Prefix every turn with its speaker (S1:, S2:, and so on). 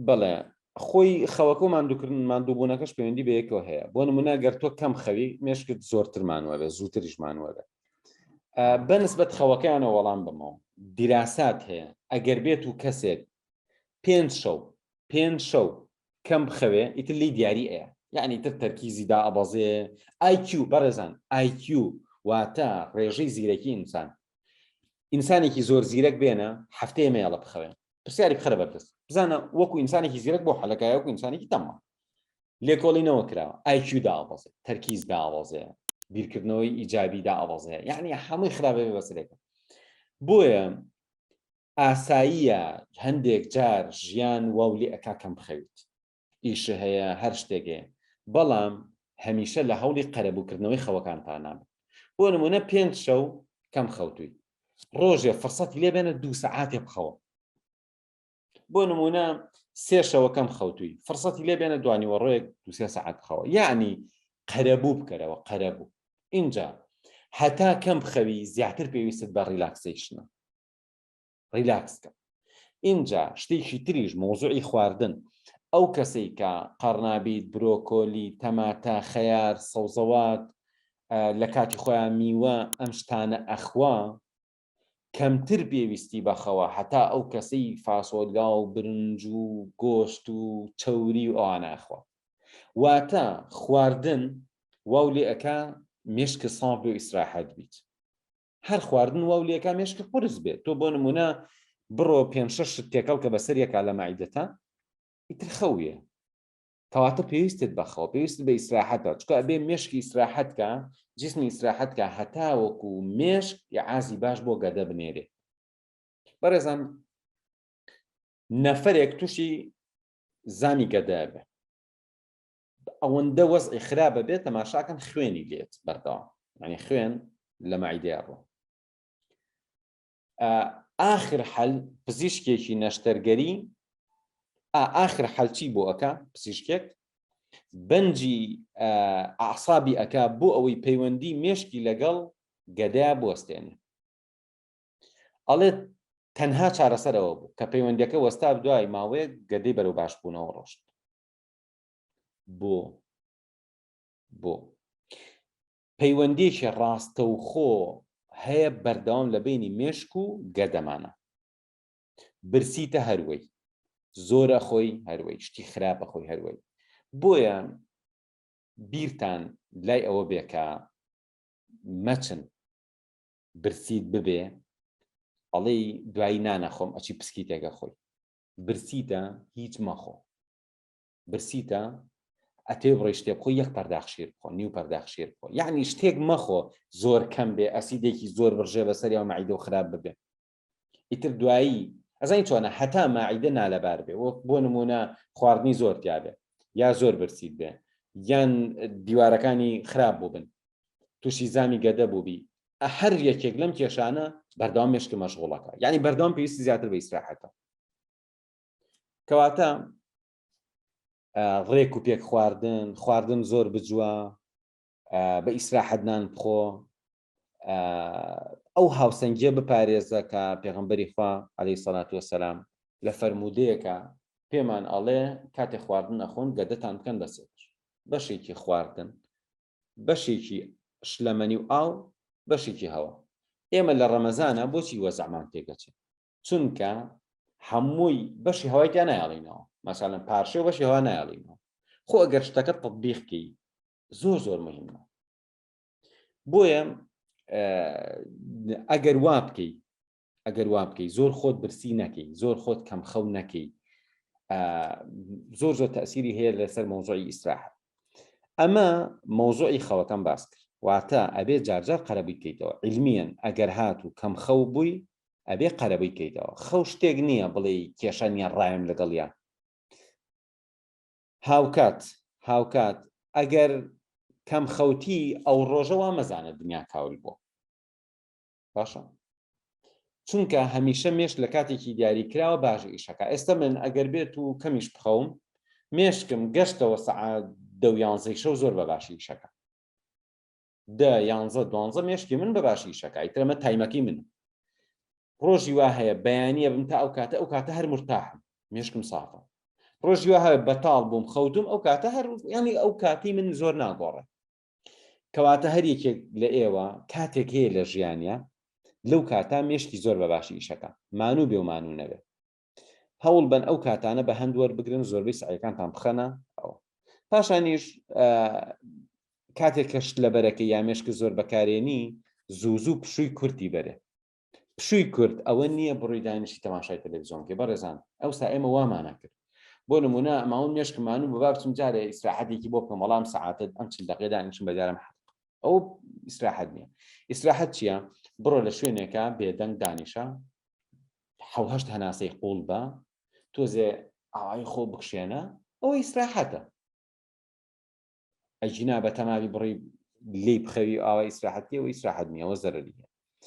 S1: بەڵێ خۆی خەوەکە و ماندووکردن ماندووبوونەکەش پەیوەندی بە یەکەوە هەیە بۆ نمونە گەر تۆ کەم خەوی مێشکت زۆرتر مانوە بێ زووتریش مانوە بێ بەنسبەت خەوەکەیانە وەڵام بمەوە دیراسات هەیە ئەگەر بێت و کەسێک پێنج شەو پێنج شەو کەم بخەوێ ئیتر لی دیاری ئەیە یعنی تر تەرکیزی دا ئەبەزێ IQ بەڕێزان IQ واتە ڕێژەی زیرەکی ئینسان ئینسانێکی زۆر زیرەک بێنە هەفتەیە مێڵە بخەوێن پرسیاری بخەرە بەردەست بزانە وەکو ئینسانێکی زیرەک بۆ حەلەکایە وەکو ئینسانێکی تەمە لێکۆڵینەوە کراوە ئایکیو داوەزێ تەرکیز داوەزێ بیرکردنەوەی ئیجابی داوەزێ یعنی هەمووی خراپێ بەسرێکە بۆیە ئاساییە هەندێک جار ژیان واو لێ ئەکا کەم بخەویت ئیش هەیە هەر شتێک هەیە بەڵام هەمیشە لە هەوڵی قەرەبووکردنەوەی خەوەکانتانە بن بۆ نمونە پێنج شەو کەم خەوتووی ڕۆژێ فرسەتی لێ بێنە دوو سەعاتێ بخەوە بۆ نمونە سێشەوە کەم خەوتووی فرسەتی لێ بێنە دوانیوەڕۆیەک دوسێ سەعات بخەوە یعنی قەرەبوو بکەرەوە قەرەبوو اینجا هەتا کەم بخەوی زیاتر پێویستت بە ڕیلاکسیشنە ریلاکس کە ئینجا شتێکی تریش مۆزوعی خواردن ئەو کەسەی کە قەڕنابیت برۆکۆلی تەماتە خەیار سەوزەوات لە کاتی خۆیان میوە ئەم شتانە ئەخوا کەمتر پێویستی بەخەوە هەتا ئەو کەسەی فاسۆلگا و برنج و گۆشت و چەوری و ئەواناخوا واتە خواردن واو لێ ئەک مشک ساف بۆ ئیسراحەت بیت هەر خواردن واو لێکا مێشکە قرس بێت تۆ بۆ نمونە بڕۆ پێ شش تێکەڵ کە بەسەر یەکا لە مایدەتە ئیتر خەویە کەواتە پێویستت بەخەوە پێویست بە ئیسراحەتە چکە بێ مشکی ئیسراحەتکە جسمی ئیسراحەتکە هەتاوەکو و مێشک یعازی باش بۆ گەدە بنێرێ بەڕێزان نەفرێک تووشی زانی گەدە بێ ئەوەندە وەزعی خراپە بێت تەماشاکەن خوێنی لێت بەردەوام ینی خوێن لە مەعیدەیە ڕۆ ئاخر حەل پزیشکێکی نەشتەرگەری ئاخر حەلچی بۆ ئەەکە پزیشکێک بەنجی ئاسابی ئەک بۆ ئەوەی پەیوەندی مێشکی لەگەڵ گەدە بوەستێنێ ئەڵێت تەنها چارەسەرەوە بوو کە پەیوەندەکە وەستا دوای ماوەیە گەدەی بەرەو باش بوونەوە ڕۆشت بۆ بۆ پەیوەندیەکی ڕاستەوخۆ هەیە بەردەوام لە بینی مێشک و گەدەمانە برسیتە هەروەی زۆرە خۆی هەروەی شتی خراپە خۆی هەروەی بۆیە بیرتان لای ئەوە بێکە مەچن برسیت ببێ ئەڵێی دوایی نانەخۆم ئەچی پسکی تێگە خۆی برسیتە هیچ مەخۆ برسیتە ئەتێ بڕی شتێ بخۆ یەک پەرداخ شیر بخۆ نیو پەرداخ شیر بخۆ یعنی شتێک مەخۆ زۆر کەم بێ ئەسیدێکی زۆر بڕژێ بەسەر یا مەعیدە و خراپ ببێ ئیتر دوایی ئەزانی چۆنە هەتا ماعیدە نالەبار بێ وەک بۆ نمونە خواردنی زۆر تیاابێ یا زۆر برسیت بێ یان دیوارەکانی خراپ بووبن تووشی زامی گەدە بووبی هەر یەکێک لەم کێشانە بەردەوام مشکی مەشغوڵەکە یعنی بەردەوام پێویستی زیاتر بە ئیسراحەتە کەواتە ڕێک و پێک خواردن خواردن زۆر بجووە بە ئیسراحەتنان بخۆ ئەو هاوسەنگیە بپارێزە کە پێغمبەری خوا عەلی سەلات وەسەسلام لە فەرمودەیەەکە پێمان ئەڵێ کاتێ خواردن نەخۆن گەدەتان بکەن بەسێت بەشێکی خواردن بەشێکی شلەمەنی و ئاو بەشێکی هەوە ئێمە لە ڕەمەزانە بۆچی وەزعمان تێگەچێت چونکە هەمووی بەشی هەوای تیا نایڵینەوە مەسەلەن پارشێ بەشی هەوا نایڵینەوە خۆ ئەگەر شتەکە تطبیقکەی زۆر زۆر مهمە بۆیە ئەگەر وا بکەی ئەگەر وا بکەی زۆر خۆت برسی نەکەی زۆر خۆت کەم خەو نەکەی زۆر زۆر تەسیری هەیە لەسەر مۆزۆی ئیسراح ئەمە مۆزۆی خەوەکەم باس کرد واتە ئەبێ جارجار قەرەبی بکەیتەوە علمیان ئەگەر هات و کەم خەو بووی ئەبێ قەرەبووی کەیتەوە خەو شتێک نییە بڵێ کێشە نیە ڕایم لەگەڵە هاوکات هاوکات ئەگەر کەم خەوتی ئەو ڕۆژە وا مەزانە دنیا کاول بووە باشە چونکە هەمیشە مێش لە کاتێکی دیاری کراوە باش ئیشەکە ئێستا من ئەگەر بێت و کەمیش بخەوم مێشکم گەشتەوە سەعات دەویانزەی شەو زۆر بە باشی ئیشەکە دە یانزە دوانزە مێشکی من بەباشی ئیشەکە ئیتر ئەمە تایمەکەی منە ڕۆژی وا هەیە بەیانیە بم تا ئەو کاتە ئەو کاتە هەر مرتاحم مێشکم سافە ڕۆژی وا هەیە بەتاڵ بووم خەوتم ئەو کاتە هەر ینی ئەو کاتی من زۆر ناگۆڕێ کەواتە هەر یەکێک لە ئێوە کاتێک هەیە لە ژیانە لەو کاتا مێشکی زۆر بەباشی ئیشەکە مانوو بێ و مانوو نەبێت هەوڵ بەن ئەو کاتانە بە هەند وەربگرن زۆربەی سعیەکانتان بخەنە ئەوە پاشانیش کاتێک کەشت لە بەرەکە یا مێشک زۆر بەکارێنی زوو زوو پشووی کورتی بەرێ پشووی کورد ئەوە نییە بڕی دانیشی تەماشای تەلەڤزیۆنکە بەڕێزان ئەو سا ئێمە وامانە کرد بۆ نمونە ماون مێشکمان و بەبارچم جارێ ئیسراحەتێکی بۆ بکەم وەڵام سعاتت ئەم چل دقی دانیشم بەدارم حق ئەو ئیسراحەت نییە ئیسراحەت چییە بڕۆ لە شوێنێکە بێدەنگ دانیشە حەو هەشت هەناسەی قوڵ بە، تۆزێ ئاوایی خۆ بکشێنە، ئەوە ئیسراحەتە. ئەگینا بە تەماوی بڕی لێی بخەوی و ئاوای ئیسراحەت بکەی، ئەوە ئیسراحەت نییە، ئەوە زەرەری هەیە.